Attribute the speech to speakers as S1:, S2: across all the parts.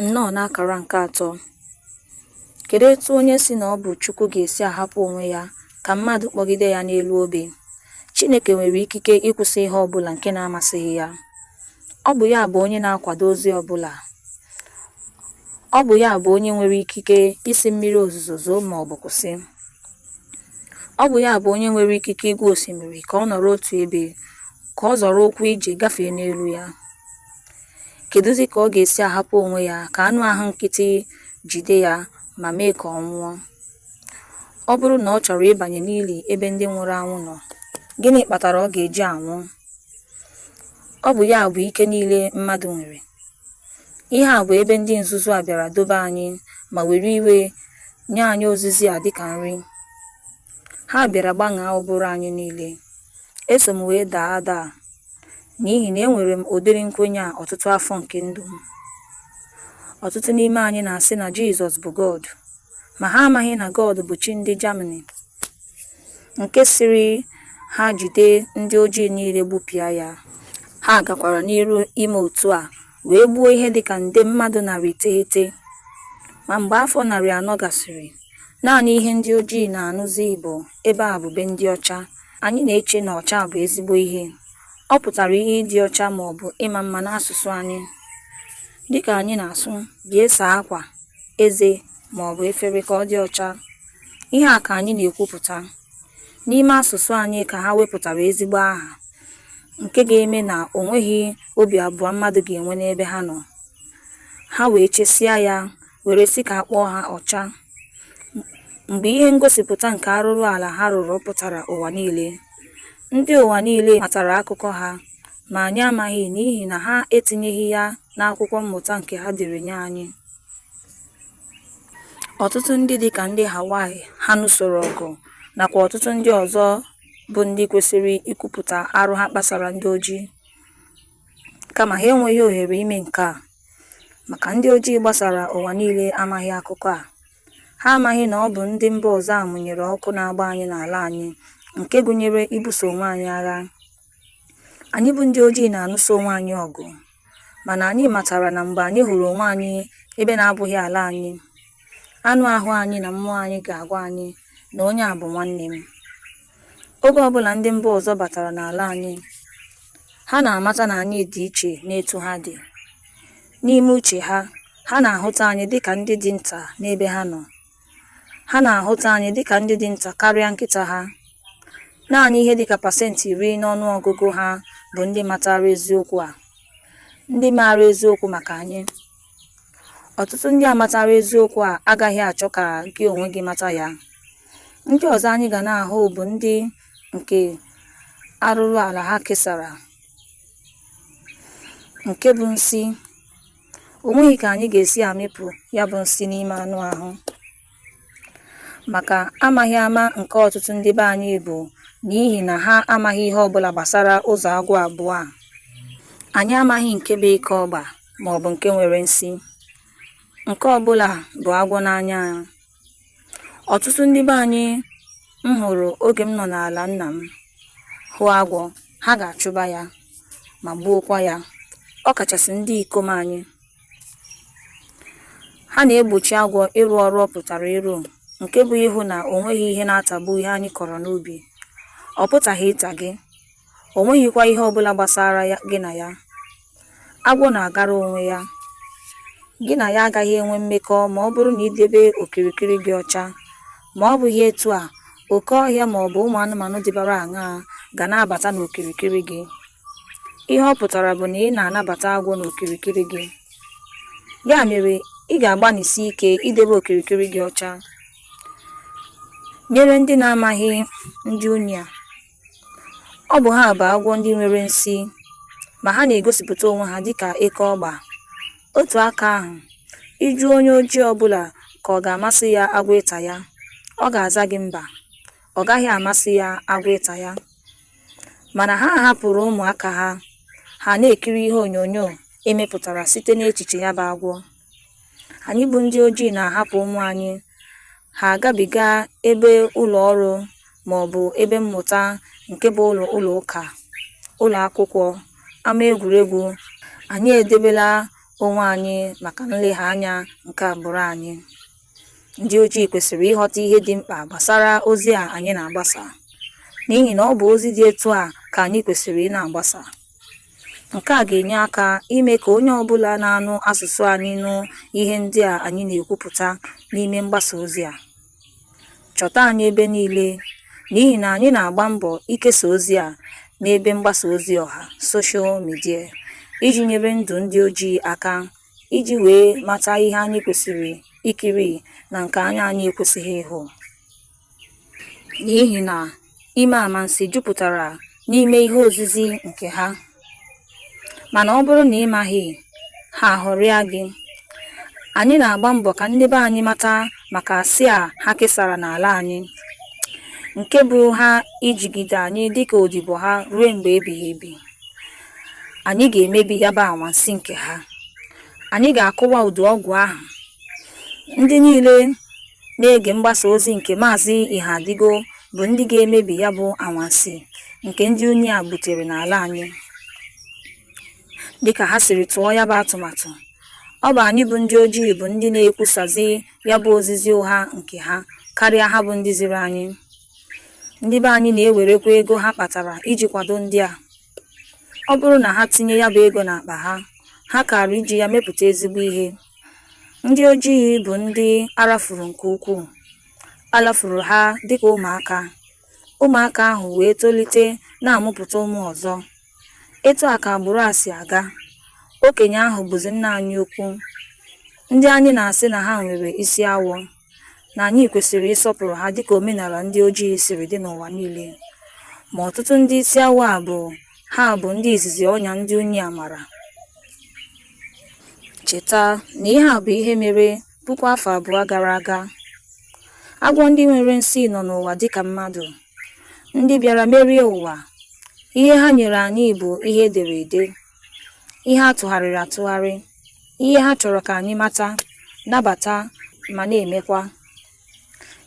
S1: Nnọọ n'akara nke atọ. Kedu etu onye sị na ọ bụ Chukwu ga-esi ahapụ onwe ya ka mmadụ kpọgide ya n'elu obe? Chineke nwere ikike ịkwụsị ihe ọbụla nke na-amasịghị ya. Ọ bụ ya bụ onye na-akwado ozi ọbụla. Ọ bụ ya bụ onye nwere ikike ịsị mmiri ozuzo zoo ma ọ bụ kwụsị. Ọ bụ ya bụ onye nwere ikike ịgwa osimiri ka ọ nọrọ otu ebe, ka ọ zọrọ ụkwụ ije gafee n'elu ya. Kedụzi ka ọ ga-esi ahapụ onwe ya ka anụ ahụ nkịtị jide ya ma mee ka ọ nwụọ? Ọ bụrụ na ọ chọrọ ịbanye n'ili ebe ndị nwụrụ anwụ nọ, gịnị kpatara ọ ga-eji anwụ? Ọ bụ ya bụ ike niile mmadụ nwere. Ihe a bụ ebe ndị nzuzu a bịara dobe anyị ma were iwe nye anyị ozizi a dịka nri. Ha bịara gbaṅaa ụbụrụ anyị niile. Eso m wee daa ada a n'ihi na enwere m ụdịrị nkwenye a ọtụtụ afọ nke ndụ m. Ọtụtụ n'ime anyị na-asị na Jizọs bụ God, ma ha amaghị na God bụ chi ndị Germany nke sịrị ha jide ndị ojii niile gbupịa ya. Ha gakwara n'iru ime otu a. wee gbuo ihe dị ka nde mmadụ narị iteghete. Ma mgbe afọ narị anọ gasịrị, naanị ihe ndị ojii na-anụzi bụ ebe a bụ be ndị ọcha, anyị na-eche na ọcha bụ ezigbo ihe. Ọ pụtara ihe ịdị ọcha ma ọ bụ ịma mma n'asụsụ anyị. Dị ka anyị na-asụ bịa saa akwa, eze ma ọ bụ efere ka ọ dị ọcha, ihe a ka anyị na-ekwupụta. N'ime asụsụ anyị ka ha wepụtara ezigbo aha nke ga-eme na o nweghị obi abụọ mmadụ ga-enwe n'ebe ha nọ. Ha wee chesịa ya were sị ka a kpọọ ha ọcha. Mgbe ihe ngosipụta nke arụrụala ha rụrụ pụtara ụwa niile, ndị ụwa niile matara akụkọ ha, ma anyị amaghị n'ihi na ha etinyeghị ya n'akwụkwọ mmụta nke ha dere nye anyị. Ọtụtụ ndị dịka ndị Hawaii ha nụsoro ọgụ nakwa ọtụtụ ndị ọzọ bụ ndị kwesịrị ikwupụta arụ ha kpasara ndị ojii, kama ha enweghị ohere ime nke a, maka ndị ojii gbasara ụwa niile amaghị akụkọ a, ha amaghị na ọ bụ ndị mba ọzọ a mụnyere ọkụ na-agba anyị n'ala anyị, nke gụnyere ibuso onwe anyị agha. Anyị bụ ndị ojii na-anụso onwe anyị ọgụ, mana anyị matara na mgbe anyị hụrụ onwe anyị ebe na-abụghị ala anyị, anụ ahụ anyị na mmụọ anyị ga-agwa anyị na onye a bụ nwanne m. Oge ọbụla ndị mba ọzọ batara n'ala anyị, ha na-amata na anyị dị iche n'etu ha dị. N'ime uche ha, ha na-ahụta anyị dịka ndị dị nta n'ebe ha nọ, Ha na-ahụta anyị dịka ndị dị nta karịa nkịta ha. Naanị ihe dịka pasentị iri n'ọnụ ọgụgụ ha bụ ndị matara eziokwu a, ndị maara eziokwu maka anyị. Ọtụtụ ndị a matara eziokwu a agaghị achọ ka gị onwe gị mata ya. Ndị ọzọ anyị ga na-ahụ bụ ndị nke arụrụala ha kesara, nke bụ nsi. o nweghị ka anyị ga-esi amịpụ ya bụ nsi n'ime anụ ahụ maka amaghị ama nke ọtụtụ ndị be anyị bụ n'ihi na ha amaghị ihe ọbụla gbasara ụzọ agwọ abụọ a anyị amaghị nke bụ eke ọgba ma ọ bụ nke nwere nsi nke ọbụla bụ agwọ n'anya ya ọtụtụ ndị be anyị m hụrụ oge m nọ n'ala nna m hụ agwọ ha ga-achụba ya ma gbuokwa ya ọ kachasị ndị ikom anyị ha na-egbochi agwọ ịrụ ọrụ ọ pụtara ịrụ nke bụ ịhụ na o nweghị ihe na-atagbu ihe anyị kọrọ n'ubi ọ pụtaghị ịta gị O nweghịkwa ihe ọ bụla gbasara gị na ya. Agwọ na-agara onwe ya. Gị na ya agaghị enwe mmekọ ma ọ bụrụ na i debe okirikiri gị ọcha. Ma ọ bụghị etu a, oke ọhịa ma ọ bụ ụmụ anụmanụ dịbara aṅaa ga na-abata n'okirikiri gị? Ihe ọ pụtara bụ na ị na-anabata agwọ n'okirikiri gị. Ya mere, ị ga-agbanịsi ike idebe okirikiri gị ọcha. Nyere ndị na-amaghị ndị unyi a. Ọ bụ ha bụ agwọ ndị nwere nsi, ma ha na-egosipụta onwe ha dịka eke ọgba. Otu aka ahụ, ị jụọ onye ojii ọ bụla ka ọ ga-amasị ya agwọ ịta ya, ọ ga-aza gị mba, ọ gaghị amasị ya agwọ ịta ya. Mana ha hapụrụ ụmụaka ha, ha na-ekiri ihe onyonyo e mepụtara site n'echiche ya bụ agwọ. Anyị bụ ndị ojii na-ahapụ ụmụ anyị ha agabiga ebe ụlọ ọrụ ma ọ bụ ebe mmụta nke bụ ụlọ ụlọ ụka, ụlọ akwụkwọ, ama egwuregwu, anyị edebela onwe anyị maka nlegha anya nke agbụrụ anyị. Ndị ojii kwesịrị ịghọta ihe dị mkpa gbasara ozi a anyị na-agbasa, n'ihi na ọ bụ ozi dị etu a ka anyị kwesịrị ị na-agbasa. Nke a ga-enye aka ime ka onye ọbụla na-anụ asụsụ anyị nụ ihe ndị a anyị na-ekwupụta n'ime mgbasa ozi a. Chọta anyị ebe niile n'ihi na anyị na-agba mbọ ikesa ozi a n'ebe mgbasa ozi ọha, social media, iji nyere ndụ ndị ojii aka iji wee mata ihe anyị kwesịrị ikiri na nke anya anyị ekwesịghị ịhụ. n'ihi na ime amansi jupụtara n'ime ihe ozizi nke ha mana ọ bụrụ na ị maghị ha aghọrịa gị anyị na-agba mbọ ka ndị be anyị mata maka asị a ha kesara n'ala anyị nke bụ ha ijigide anyị dịka odibo ha ruo mgbe ebighị ebi anyị ga-emebi ya bụ anwansi nke ha anyị ga-akụwa udu ọgwụ ahụ ndị niile na-ege mgbasa ozi nke Maazị Ihadigo bụ ndị ga-emebi ya bụ anwansi nke ndị unyi a butere n'ala anyị. Dịka ha siri tụọ ya bụ atụmatụ, ọ bụ anyị bụ ndị ojii bụ ndị na-ekwusazi ya bụ ozizi ụgha nke ha karịa ha bụ ndị ziri anyị. Ndị be anyị na-ewerekwa ego ha kpatara iji kwado ndị a. Ọ bụrụ na ha tinye ya bụ ego n'akpa ha, ha kaara iji ya mepụta ezigbo ihe. Ndị ojii bụ ndị a rafuru nke ukwuu. A lafuru ha dịka ụmụaka. Ụmụaka ahụ wee tolite na-amụpụta ụmụ ọzọ. Etu a ka agbụrụ a si aga. Okenye ahụ bụzi nna anyị ukwu. Ndị anyị na-asị na ha nwere isi awọ. na anyị kwesịrị ịsọpụrụ ha dịka omenala ndị ojii siri dị n'ụwa niile. Ma ọtụtụ ndị isi awọ a bụ ha bụ ndị izizi ọnya ndị unyi a mara. Cheta na ihe a bụ ihe mere puku afọ abụọ gara aga. Agwọ ndị nwere nsi nọ n'ụwa dịka mmadụ. Ndị bịara merie ụwa. Ihe ha nyere anyị bụ ihe e dere ede, ihe a tụgharịrị atụgharị. ihe ha chọrọ ka anyị mata nabata ma na-emekwa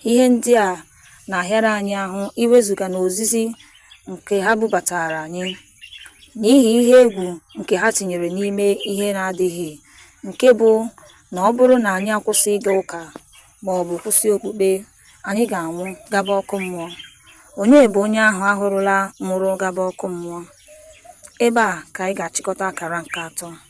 S1: ihe ndị a na-ahịara anyị ahụ iwezuga n'ozizi nke ha bubataara anyị n'ihi ihe egwu nke ha tinyere n'ime ihe na-adịghị nke bụ na ọ bụrụ na anyị akwụsị ịga ụka ma ọ bụ kwụsị okpukpe anyị ga-anwụ gaba ọkụ mmụọ onye bụ onye ahụ a hụrụla nwụrụ gaba ọkụ mmụọ ebe a ka anyị ga-achịkọta akara nke atọ